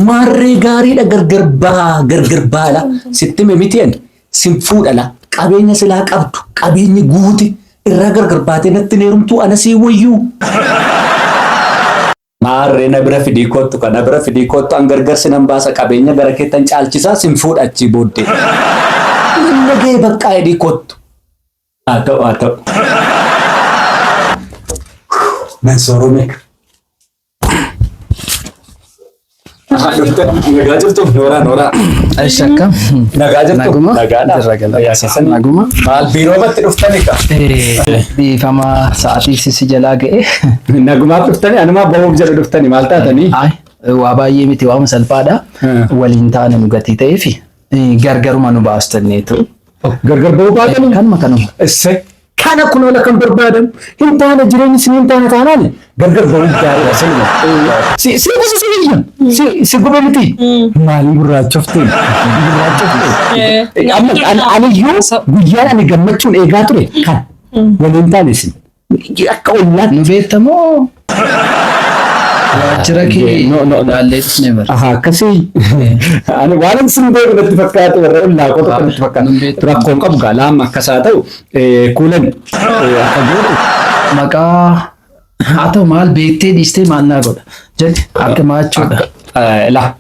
Maarree gaariidha gargar baa gargar baala sitti hime miti ani sin fuudhala qabeenya silaa qabdu qabeenyi guute irraa gargar baatee natti hin heerumtuu ana sii wayyuu. Maarree na bira fidii koottu ka na bira fidii koottu an gargar sinan baasa qabeenya gara keettan caalchisaa sin fuudha achii booddee. Nan nagahee baqqaa jedhii koottu. Haa ta'u haa ta'u. Nan soorome. Nagaa jirtu Nooraa Nooraa. Eessi akka? Nagaa jirtu. Naguma? Nagaadha. Jirra gala. Fayyaa keessan. Naguma? Maal biiroomatti dhuftani ka? Dhiifama sa'aatii sisi jalaa ga'e. Nagumaaf dhuftani anumaa bahuuf jedhu dhuftani maal taatanii? Ay, waa baay'ee miti waama salphaadha. Hmm. Waliin taane nu gatii ta'eefi eh, gargaruma nu baastanneetu. Gargar bahuu baatanii? Kanuma kanuma. Isse. Kana kunoo la kan barbaadamu hin taane jireenyi isin hin taane taanaan gargar ba'uun gaariidha siluma. Si si gosa si biyya si si goba miti. Maalii gurraachofte gurraachofte. Amma an- aniyyuu guyyaan ani gammachuun eegaa ture kan waliin taane isin akka ollaatti. Nu beektamoo? Waajjira kee No, no, no. ilaallee dhufne bara. Aha, akkasii. Ani waanan sin beeku natti fakkaate warra ollaa koo tokko natti fakkaate. Nun beektu. Rakkoo hin qabu gaa laamma akkas haa ta'u eh, kuulan eh, akka gootu. Maqaa haa ta'u maal beektee dhiistee maal naa godha. Jedhe akka maachuudha. Eh, Laa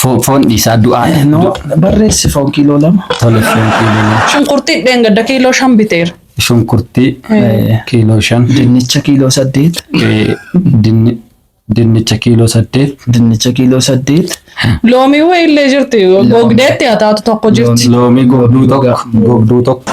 Fo- Foon dhiisaa du'aa. No, barreessi foon kiiloo lama. Tole foon kiiloo lama. Shunkurtii dheengadda kiiloo shan biteera. Shunkurtii eh, kiiloo shan. Dinnicha kiiloo saddeet. Eh, dinni- Dinnicha kiiloo saddeet. Dinnicha kiiloo saddeet. Loomii wayii illee jirti. Gogdeetti haa taatu tokko jirti. Loomii gogduu tokko. Gogduu tokko.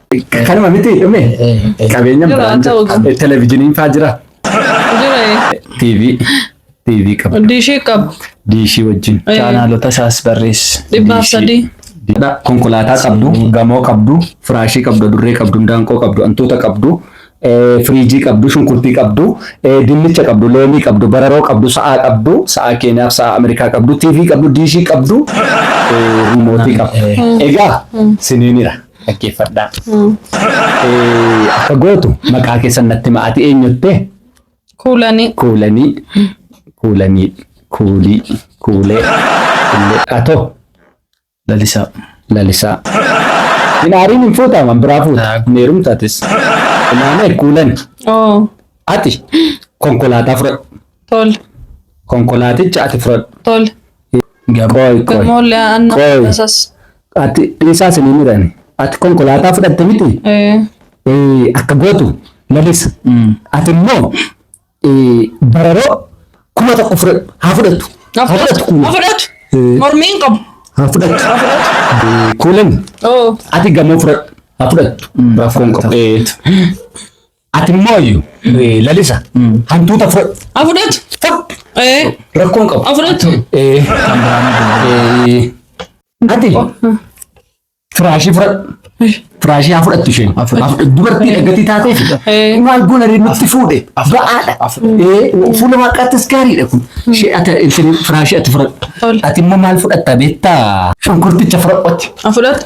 Kanuma miti dhume qabeenya Jira, biraan ta'u jira. qaba. Televizyiiniin faa jira. Jira TV TV qaba. diishii qabu Diishii wajjin. Eh, Chaanaalota isaas barreessi. dhibbaaf sadii. Dha, konkolaataa qabdu, gamoo qabdu, firaashii qabdu, adurree qabdu, daanqoo qabdu, antuuta qabdu, eh, firiijii qabdu, shunkurtii qabdu, eh, dinnicha qabdu, loomii qabdu, bararoo qabdu, sa'aa qabdu, sa'aa Keeniyaaf sa'aa Ameerikaa qabdu, TV qabdu, diishii qabdu, eh, riimootii qabdu. Egaa siniinira. dhaggeeffadhaa. Eh, Akka gootu maqaa keessan natti hima ati eenyutte Kuulanii. kuulanii kuulanii kuulii kuulee kuulee atoo Lalisaa. lalisaa. Hin aariin hin fuutaman biraa fuuta Haa. hin heerumtatis. Ilaamee kuulani Oo. ati konkolaataa fudhadhu Tole. konkolaaticha ati fudhadhu Tole. Qoy qoy. Moollee aannan Qoy. tasas. Ati dhiisaa sinii midhani. Ati konkolaataa fudhatte miti. Eh, Eh, Akka gootu lalisa. Ati immoo eh, bararoo kuma tokko fudhadhu. Haa fudhatu. Haa fudhatu kuma. Afudhatu. Eh. Mormiin qabu. Haa fudhatu. Eh, Kuulin. Oh. Ati gamoo fudhadhu. Haa fudhatu. Rakkoon qabu. Eh, Ati mooyu lalisa hantuuta fudhadhu. A fudhatu. Fudhadhu. Eh, Rakkoon qabu. a fudhatu. Eh, eh, Ati firaashii fudhadhu. Firaashii haa fudhattu isheen. Haa fudhattu. Dubartii dhaggatii taatee fudha. Eh. Maal goona ree nutti fuudhe. Ba'aadha. Eh, Fuula waaqaattis gaariidha kun. Ishee ati isheen firaashii ati fudhadhu. Tole. Ati immoo maal fudhatta beektaa? Shunkurticha fudhadhu. A fudhatu.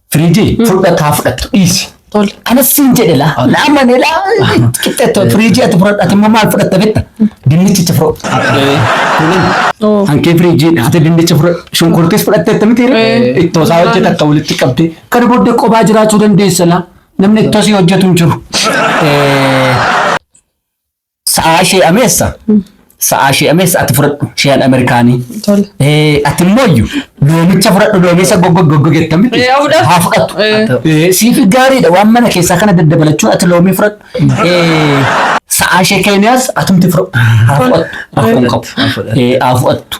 Firiijii fudhadha taa fudhattu dhiisi. Tole. Kana siin jedhe laa. Naa mane laa. Qixxeettoo firiijii ati fudhadha ati immoo maal fudhatta betta? Dinnichicha fudhadha. Oo. Hankee firiijiidha. Ati dinnicha fudhadha. Shunkurtiis fudhattee akkamitti hiree? Eh. Ittoo isaa hojjeta akka walitti qabdee. Kana booddee kophaa jiraachuu dandeessa laa. Namni ittoo sii hojjetu hin jiru. Eh, Sa'aa ishee ameessa. Sa'aa ishee ameessa ati fudhadhu shiyaan Ameerikaanii. Tole. Eh, Ati immoo iyyuu loomicha fudhadhu loomicha goggoggoggogetta miti. Eh, haa fudhatu. Haa fudhatu. Eh. Eh, Siif gaariidha waan mana keessaa kana daddabalachuun ati loomii fudhadhu. Eh, Sa'aa ishee keenyaas atumti fudhadhu. Haa fudhattu. Rakkoon qabu. Eh, Haa fudhattu.